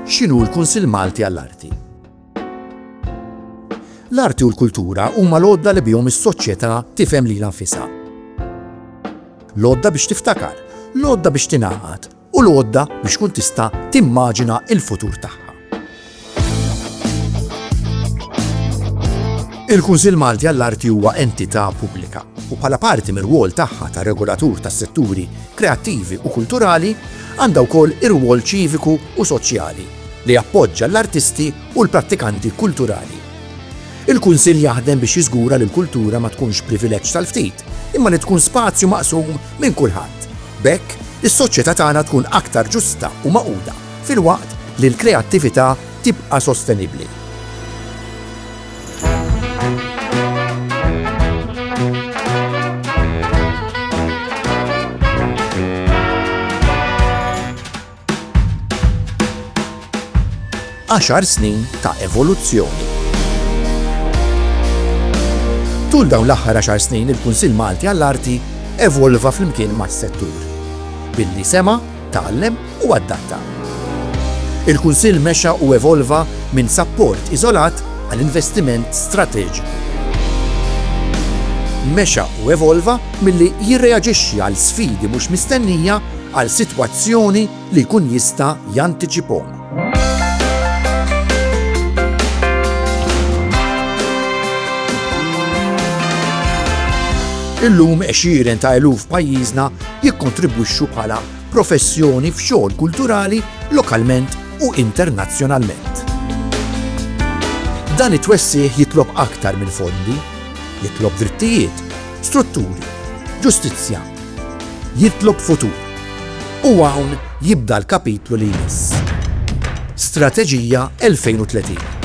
X'inhu l-Kunsill Malti għall-Arti? L-arti u l-kultura huma l-għodda li bihom is-soċjetà tifhem lilha nfisha. L-għodda biex tiftakar, l-għodda biex tingħaqad u l-għodda biex tkun tista' timmaġina l-futur tagħha. Il-Kunsill Malti għall-Arti huwa entità pubblika u bħala parti mir-rwol tagħha ta' regolatur tas-setturi kreattivi u kulturali għandha wkoll ir-rwol ċiviku u soċjali li jappoġġa l-artisti u l-prattikanti kulturali. Il-Kunsill jaħdem biex jiżgura li l-kultura ma tkunx privileġġ tal-ftit, imma li tkun spazju maqsum minn kulħadd. Bekk, is-soċjetà tagħna tkun aktar ġusta u maquda. filwaqt li l-kreattività tibqa' sostenibbli. Għaxar snin ta' evoluzzjoni. Tul dawn l-aħħar għaxar snin il-Kunsill Malti għall-Arti evolva flimkien mas-settur. Billi sema' tgħallem u adatta. Il-Kunsill mexa u evolva minn sapport iżolat għal investiment strateġiku. Mexa u evolva milli jirreaġixxi għal sfidi mhux mistennija għal sitwazzjoni li jkun jista' jantiċipahom. Illum għexieren ta' eluf pajjiżna jikkontribwixxu bħala professjoni f'xogħol kulturali lokalment u internazzjonalment. Dan it-twessih jitlob aktar minn fondi, jitlob drittijiet, strutturi, ġustizzja, Jitlob futur. U hawn jibda l-kapitlu li jmiss. Strateġija 2030.